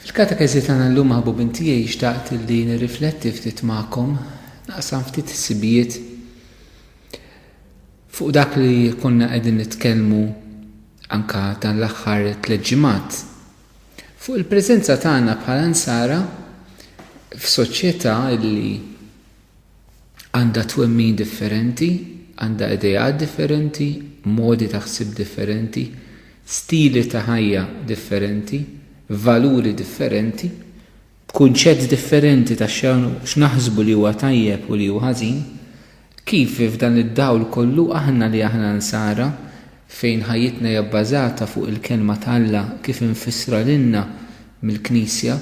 Fil-katekeżi tagħna llum maħbubin tiegħi xtaqt li nirrifletti ftit magħkom, naqsam ftit sibijiet fuq dak li konna qegħdin nitkellmu anka dan l-aħħar tliet ġimgħat. Fuq il-preżenza tagħna bħala nsara f'soċjetà li għandha twemmin differenti, għandha ideat differenti, modi ta' ħsieb differenti, stili ta' ħajja differenti, valuri differenti, kunċett differenti ta' x'naħsbu li huwa tajjeb u li hu ħażin, kif f'dan id-dawl kollu aħna li aħna Nsara fejn ħajjitna hija bbażata fuq il-Kelma t'Alla kif imfissra lilna mill-Knisja,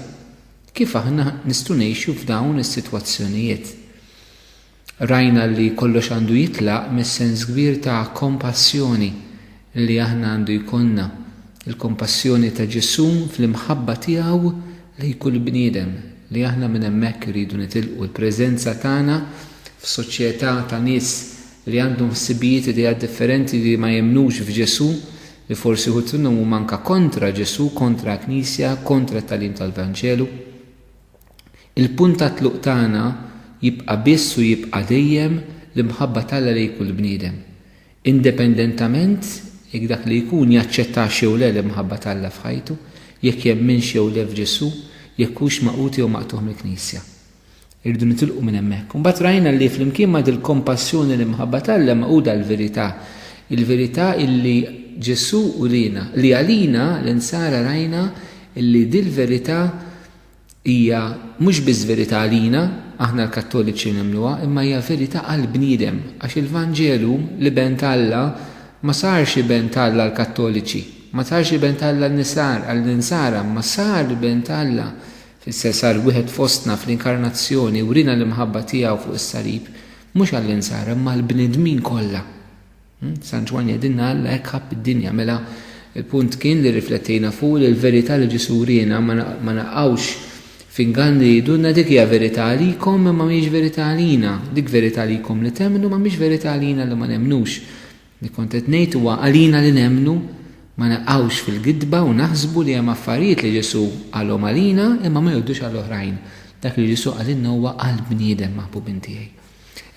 Kif aħna nistgħu ngħixu f'dawn is-sitwazzjonijiet? Rajna li kollox għandu jitlaq mis-sens kbir ta' kompassjoni li aħna għandu jkollna, il-kompassjoni ta' Ġesù fl-imħabba tiegħu lejn kull bniedem, li aħna minn hemmhekk irridu nitilqu. Il-preżenza tagħna f'soċjetà ta' nies li għandhom ħsibijiet, ideat differenti li ma jemmnux f'Ġesù, li forsi uħud minnhom huma anke kontra Ġesù, kontra l-Knisja, kontra t-tagħlim tal-Vanġelu, il-punt tat-tluq tagħna jibqa' biss u jibqa' dejjem l-imħabba t'Alla lejn kull bniedem, independentament jekk dak li jkun jaċċettax jew le l-imħabba t'Alla f'ħajtu, jekk jemminx jew le f'Ġesù, jekk hux magħqud jew maqtugħ mill-Knisja. Irridu nitilqu minn hemmhekk. Imbagħad rajna li flimkien ma' dil-kompassjoni u l-imħabba t'Alla magħquda l-verità. Il-verità illi Ġesù uriena, li għalina, l-Insara rajna illi dil-verità hija mhux biss verità għalina, aħna l-Kattoliċi nemmnuha, imma hija verità għall-bniedem, għax il-Vanġelu, l-Iben t'Alla, ma sarx Iben t'Alla għall-Kattoliċi, ma sarx Iben t'Alla għall-Insara, imma sar Iben t'Alla Fisse sar wieħed fostna fl-Inkarnazzjoni, wriena l-imħabba tiegħu fuq is-salib, mhux għall-insara imma għall-bnedmin kollha. Hm? San Ġwann jgħidilna Alla hekk ħabb id-dinja, mela il-punt kien li riflettejna fuq li l-verità li Ġesu wriena ma naqgħux fingan li jidunna dik hija verità għalikom imma mhijiex verità għalina, dik verità għalikom li temmnu ma mhix verità għalina li ma nemmnux. Li kont qed ngħid huwa għalina li nemmnu ma naqgħux fil-gidba u naħsbu li hemm affarijiet li Ġesù qalhom għalina imma ma jgħoddux għal oħrajn. Dak li Ġesù qalilna huwa għal bniedem, maħbubin tiegħi.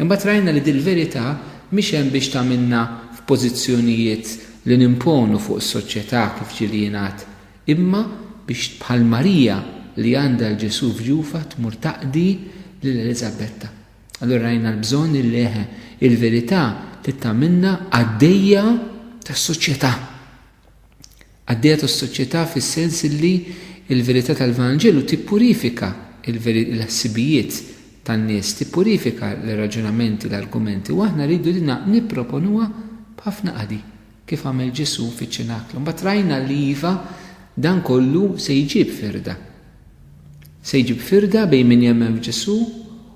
Imbagħad rajna li dil-verità mhix hemm biex tagħmilna f'pożizzjonijiet li nimponu fuq is-soċjetà kif ġieli jingħad, imma biex bħal Marija li għandha 'l Ġesù f'ġufha tmur taqdi lil Eliżabetta. Allura rajna l-bżonn li leħe il-verità trid tagħmilna għaddejja tas-soċjetà. Għaddejja tas-soċjetà fis-sens li l-verità tal-Vanġelu tippurifika l-ħsibijiet tan-nies, tippurifika l-raġunamenti, l-argumenti, u aħna rridu dina nipproponuha b'ħafna qadi, kif għamel Ġesù fiċ-ċinaklu. Mbagħad rajna li iva dan kollu se jġib firda. Se jġib firda bejn min jemmen f'Ġesù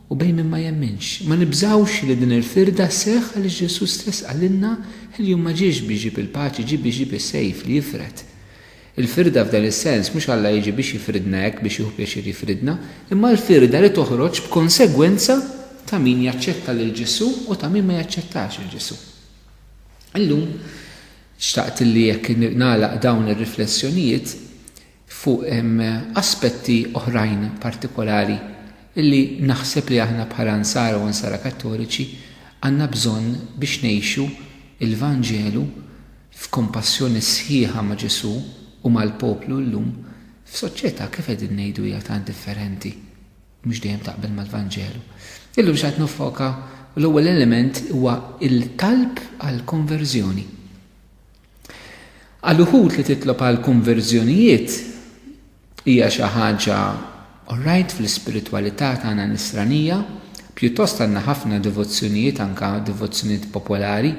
u bejn min ma jemminx. Ma nibżgħux li din il-firda sseħħ għaliex Ġesù stess qalilna l-jum ma ġiex biex jġib il-paċi ġie biex jġib is-sejf li jifred. Il-firda f'dan is-sens mhux Alla jiġi biex jifridna hekk biex jieħu pjaċir jifridna, imma l-firda li toħroġ b'konsegwenza ta' min jaċċetta lil Ġesù u ta' min ma jaċċettax lil Ġesù. Illum xtaqt li jekk nagħlaq dawn ir-riflessjonijiet fuq aspetti oħrajn partikolari li naħseb li aħna bħala Nsara u Nsara Kattoliċi għandna bżonn biex ngħixu l-Vanġelu f'kompassjoni sħiħa ma' Ġesù u mal-poplu llum f'soċjetà kif qegħdin ngħidu hija tant differenti u mhux dejjem taqbel mal-Vanġelu. Illum x'għad niffoka l-ewwel element huwa l-talb għall-konverżjoni. Għal uħud li titlob għal konverżjonijiet hija xi ħaġa orajt fl-ispiritwalità tagħna nisranija, pjuttost għandna ħafna devozzjonijiet anke devozzjonijiet popolari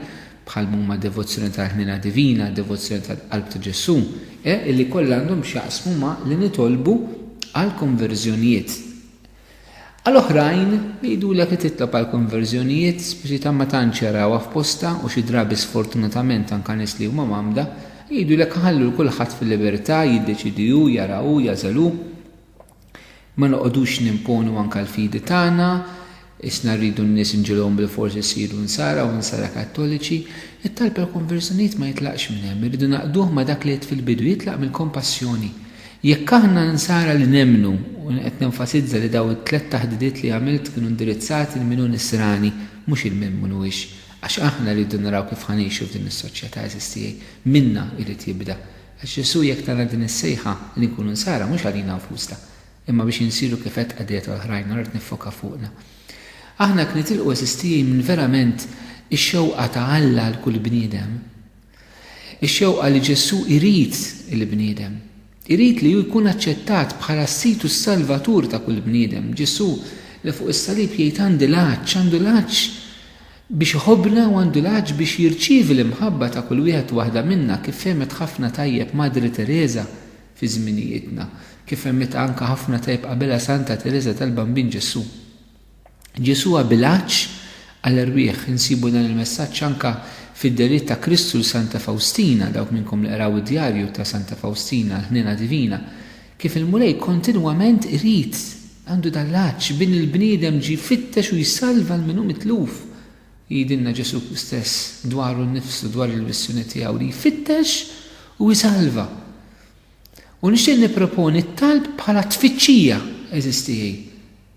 bħal m'huma devozzjoni tal-Ħniena Divina, devozzjoni tal-Qalb ta' Ġesù, eh, illi kollha għandhom x'jaqsmu ma' li nitolbu għal konverżjonijiet. Għal oħrajn, jgħidulek li titlob għal konverżjonijiet, speċi ta' ma tantx jarawha f'postha u xi drabi sfortunatament anke nies li huma mgħammda, jgħidulek iħallu 'l kulħadd fil-libertà jiddeċiedi hu, jara hu, jagħżel hu. Ma noqogħdux nimponu anke l-fidi tagħna, isna rridu n-nies inġegħluhom bilfors isiru Nsara u Nsara Kattoliċi. It-talb għall-konverżjonijiet ma jitlaqx minn hemm, irridu naqduh ma' dak li għidt fil-bidu, jitlaq mill-kompassjoni. Jekk aħna Nsara li nemmnu, u jien qed nenfasizza li dawn it-tliet taħdidiet li għamilt kienu indirizzati lil min hu Nisrani, mhux il min mhun huwiex, għax aħna rridu naraw kif ħa ngħixu f'din is-soċjetà, għeżież tiegħi, minna jrid jibda. Għax Ġesù jekk tana din is-sejħa li nkunu Nsara mhux għalina nfusna, imma biex insiru kif għedt qadiet oħrajn, allura qed niffoka fuqna. Aħna jekk nitilqu għeżież tiegħi minn verament ix-xewqa ta' Alla għal kull bniedem, Ix-xewqa li Ġesù jrid il-bniedem. Irid li hu jkun aċċettat bħala s-Sid u s-Salvatur ta' kull bniedem. Ġesù li fuq is-salib jgħid għandi l-għatx, għandu l-għatx biex iħobbna u għandu l-għatx biex jirċievi l-imħabba ta' kull wieħed u waħda minna kif fehmet ħafna tajjeb Madre Tereża fi żminijietna, kif fehmitha anke ħafna tajjeb qabilha Santa Tereża tal-Bambin Ġesù. Ġesù abilgħax għal erwieħ. Insibu dan il-messaġġ anke fid-dehriet ta' Kristu 'l Santa Fawstina, dawk minnkom li qraw id-djarju ta' Santa Fawstina, l-ħniena divina, kif il-Mulej kontinwament irid, għandu dan l-għatx, b'in il-bniedem ġie jfittex u jsalva 'l min hu mitluf. Jgħidilna Ġesù stess dwaru nnifsu, dwar il-missjoni tiegħu, li jfittex u jsalva. U nixtieq nipproponi t-talb bħala tfittxija, għeżiż tiegħi.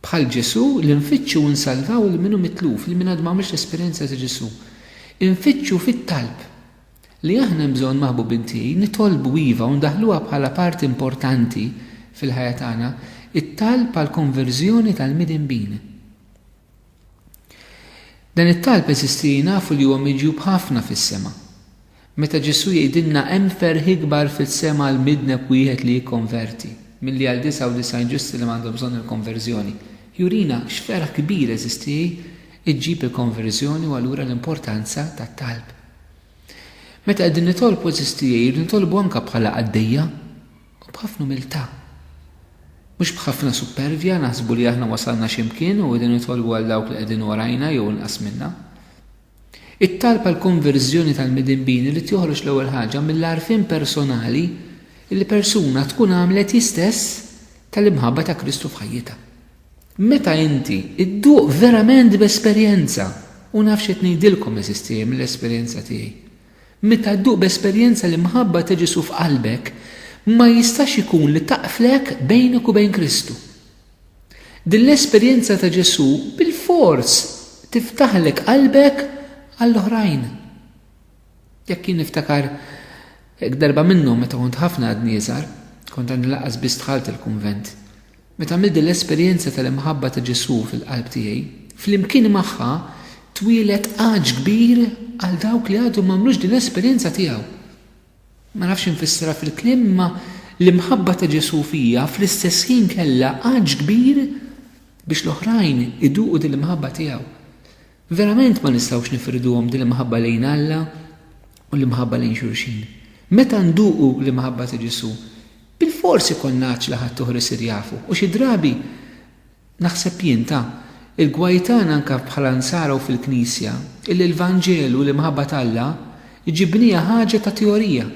Bħal Ġesù, li nfittxu u nsalvaw lil min hu mitluf, lil min għadu ma għamilx l-esperjenza ta' Ġesù. Infittxu fit-talb. Li aħna hemm bżonn, maħbubin tiegħi, nitolbu iva u ndaħħluha bħala parti importanti fil-ħajja tagħna, it-talb għall-konverżjoni tal-midinbin. Dan it-talb, għeżiż tiegħi, nafu li huwa miġjub ħafna fis-sema. Meta Ġesù jgħidilna hemm ferħ ikbar fis-sema għal midneb wieħed li jikkonverti, milli għal 99 ġusti li m'għandhom bżonn il-konverżjoni, jurina x'ferħ kbir jeżisti ġġib il-konverżjoni u allura l-importanza tat-talb. Meta qegħdin nitolbu eżisti irridu nitolbu anke bħala qaddejja u b'ħafna umiltà. Mhux b'ħafna suppervja naħsbu li aħna wasalna xi mkien u qegħdin nitolbu għal dawk li qegħdin warajna jew inqas minna. It-talb għall-konverżjoni tal-midinbin irid joħroġ l-ewwel ħaġa mill-għarfien personali li persuna tkun għamlet hi stess tal-imħabba ta' Kristu f'ħajjitha. Meta inti dduq verament b'esperjenza, u naf x'qed ngħidilkom, għeżież tiegħi, mill-esperjenza tiegħi, meta dduq b'esperjenza l-imħabba ta' Ġesù f'qalbek, ma jistax ikun li taqflek bejnek u bejn Kristu. Din l-esperjenza ta' Ġesù bilfors tiftaħlek qalbek għall-oħrajn. Jekk jien niftakar hekk darba minnhom meta kont ħafna għadni iżgħar, kont għadni lanqas biss dħalt il-kunvent, meta għamilt din l-esperjenza tal-imħabba ta' Ġesù fil-qalb tiegħi, flimkien magħha twieled għatx kbir għal dawk li għadhom m'għamlux din l-esperjenza tiegħu. Ma nafx infissirha fil-kliem imma l-imħabba ta' Ġesù fija fl-istess ħin kellha għatx kbir biex l-oħrajn iduqu din l-imħabba tiegħu. Verament ma nistgħux nifirduhom din l-imħabba lejn Alla u l-imħabba lejn xulxin. Meta nduqu l-imħabba ta' Ġesù, bilfors ikollna għatx li ħadd uħor isir jafu u xi drabi Naħseb jien ta. Il-gwaj tagħna anke bħala Nsara u fil-Knisja, illi l-Vanġelu, l-imħabba t'Alla, ġibnieha ħaġa ta' teorija.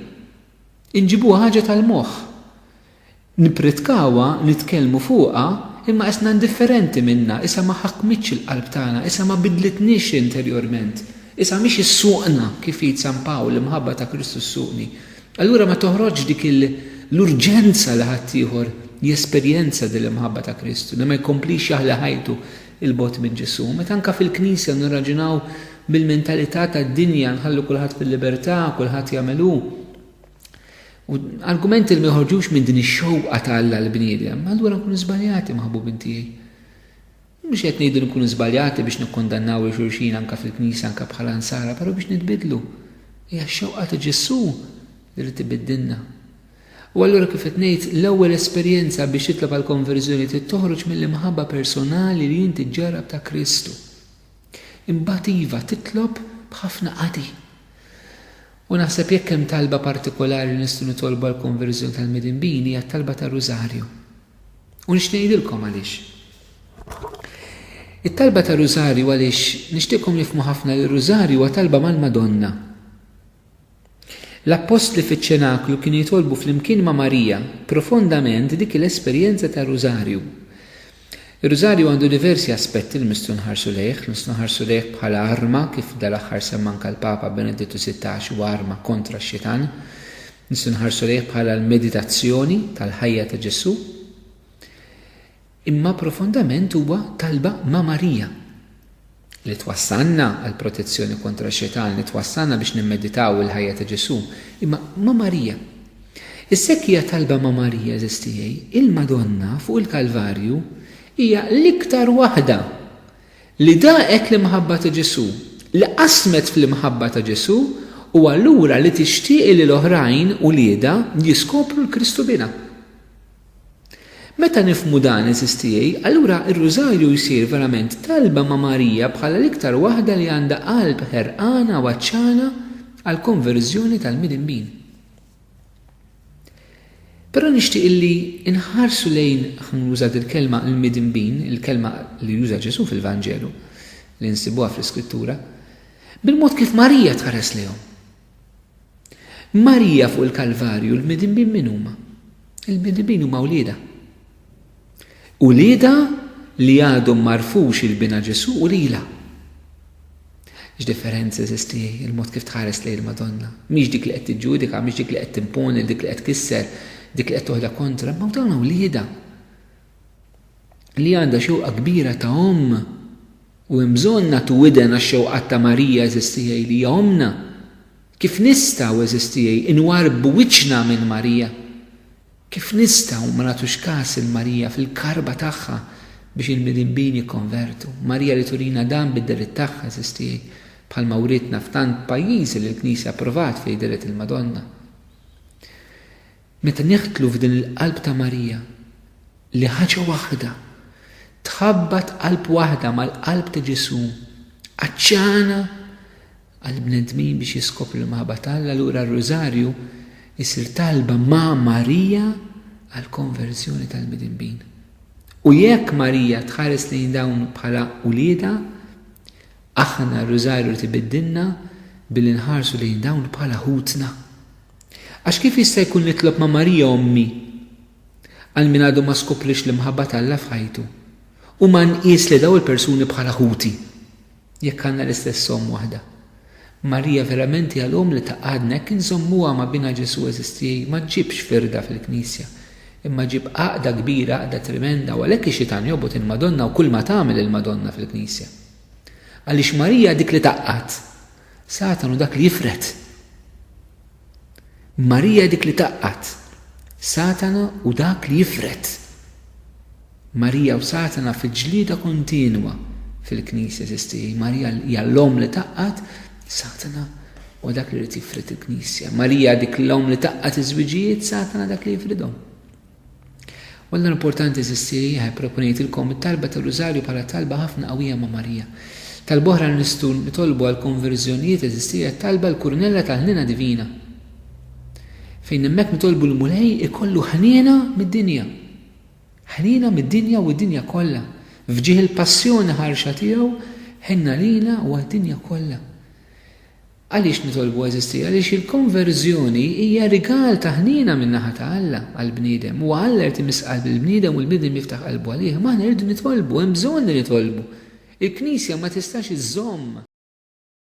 Inġibuha ħaġa tal-moħħ. Nippritkawha, nitkellmu fuqha, imma qisna indifferenti minnha, qisha ma ħakmitx il-qalb tagħna, qisha ma bidlitniex interjorment, qisha mhix issuqna, kif jgħid San Pawl, l-imħabba ta' Kristu ssuqni. Allura ma toħroġx dik l-urġenza li ħaddieħor jesperjenza din l-imħabba ta' Kristu, li ma jkomplix jaħli ħajtu 'l bogħod minn Ġesù. Meta anke fil-Knisja nirraġunaw bil-mentalità tad-dinja, nħallu kulħadd fil-libertà, kulħadd jagħmel hu, u argumenti li ma joħorġux minn din ix-xewqa ta' Alla għall-bniedem, allura nkunu żbaljati maħbubin tiegħi. Mhux qed ngħidu li nkunu żbaljati biex nikkundannaw lil xulxin anke fil-Knisja anke bħala Nsara, però biex nitbiddlu. Hija x-xewqa ta' Ġesù li jrid ibiddilna. U allura kif qed ngħid, l-ewwel esperjenza biex titlob għall-konverżjoni trid toħroġ mill-imħabba personali li inti ġġarrab ta' Kristu. Imbagħad iva, titlob b'ħafna qadi. U naħseb jekk hemm talba partikolari li nistgħu nitolbu għall-konverżjoni tal-midinbin hija t-talba tar-Rużarju. U nix ngħidilkom għaliex. It-talba ta' rużarju għaliex nixtieqkom nifmu ħafna li r-rużarju huwa talba mal-Madonna. L-appostli fiċ-ċenaklu kienu jitolbu flimkien ma' Marija profondament dik l-esperjenza ta' rużarju. Ir-rużarju għandu diversi aspetti li nistgħu nħarsu lejh, nistgħu nħarsu lejh bħala arma kif dal-aħħar semmanka l-Papa Benedittu 16 huwa arma kontra x-xitan. Nistgħu nħarsu lejh bħala l-meditazzjoni tal-ħajja ta' Ġesù, imma profondament huwa talba ma' Marija li twassalna għal protezzjoni kontra x-Xitan, li twassalna biex nimmeditaw il-ħajja ta' Ġesù, imma ma' Marija. Is-sekk hija talba ma' Marija eżistijej, il-Madonna fuq il-Kalvarju hija l-iktar waħda Li daqet l-imħabba ta' Ġesù, li qasmet fl-imħabba ta' Ġesù, u allura li tixtieqi li l-oħrajn, uliedha, jiskopru l-Kristu Binha. Meta nifhmu dan, għeżież tiegħi, allura r-Rużarju jsir verament talba ma' Marija bħala l-iktar waħda li għandha qalb ħerqana u għatxana għall-konverżjoni tal-midinbin. Però nixtieq illi nħarsu lejn, nuża dil-kelma, il-midinbin, il-kelma li juża Ġesù fil-Vanġelu, li nsibuha fl-Iskrittura, bil-mod kif Marija tħares lejhom. Marija fuq il-Kalvarju l-midinbin min huma? Il-midinbin huma wlieda. Ulieda li għadhom marfux il-bina Ġesù u lila. X'differenza jeżisti l-mod kif tħares lejn il-Madonna? Mhix dik li qed tiġġudika, mhix dik li qed timponi lil dik li qed tkisser, dik li qed toħda kontra, imma dawn uliedha li għandha xewqa kbira ta' omm u hemm bżonn nagħtu widen għax-xewqat ta' Marija għeżież tiegħi li hija ommna. Kif nistgħu għeżież tiegħi nwarrbu wiċċna minn Marija? Kif nistgħu ma nagħtux kas lil Marija fil-karba tagħha biex il-midinbin jikkonvertu? Marija li turina dan bid-deret tagħha, għeżież tiegħi, bħalma wrietna f'tant pajjiżi li l-Knisja approvat fih deret il-Madonna. Meta neħtlu f'din il-qalb ta' Marija, li ħaġa waħda, tħabbat qalb waħda mal-qalb ta' Ġesù, għatxana għall-bnedmin biex jiskopru l-imħabba ta' Alla, allura r-Rużarju jsir talba ma' Marija għall-konverżjoni tal-midinbin. U jekk Marija tħares lejn dawn bħala uliedha, aħna r-Rużarju rrid ibiddilna billi nħarsu lejn dawn bħala ħutna. Għax kif jista' jkun nitlob ma' Marija ommi għal min għadu ma skopriex l-imħabba ta' Alla f'ħajtu u ma nqies lil dawn il-persuni bħala ħuti? Jekk għandna l-istess omm waħda. Marija verament hija l-omm li tgħaqqadna jekk inżommuha ma' Binha Ġesù eżisti ma ġġibx firda fil-Knisja imma ġġib għaqda kbira għaqda tremenda u għalhekk ix-xitan jobgħod il-Madonna u kulma tagħmel il-Madonna fil-Knisja. Għaliex Marija hi dik li tgħaqqad. Satan hu dak li jifred. Marija hi dik li tgħaqqad. Satana hu dak li jifred. Marija u Satana fi ġlieda kontinwa fil-Knisja, eżisti. Marija hija l-omm li tgħaqqad, Satana huwa dak li jrid jifrid il-Knisja. Marija dik l-omm li tgħaqqad iż-żwiġijiet, Satana dak li jifridhom. U allura importanti eżisti, ħaj proponejtilkom it-talba tar-Rużarju bħala talba ħafna qawwija ma' Marija. Talba oħra li nistgħu nitolbu għall-konverżjonijiet eżisti hija t-talba l-Kurnella tal-Ħniena Divina. Fejn hemmhekk nitolbu l-Mulej ikollu ħniena mid-dinja. Ħniena mid-dinja u d-dinja kollha, f'ġieħ il-passjoni ħarxa tiegħu, ħenna lina u għad-dinja kollha. Għaliex nitolbu, għeżiżti? Għaliex il-konverżjoni hija rigal ta' ħniena min-naħa ta' Alla għall-bniedem. Huwa Alla li jrid imiss qalb lill-bniedem u l-bniedem jiftaħ qalbu għalih. Imma aħna rridu nitolbu, hemm bżonn li nitolbu. Il-Knisja ma tistax iżżomm.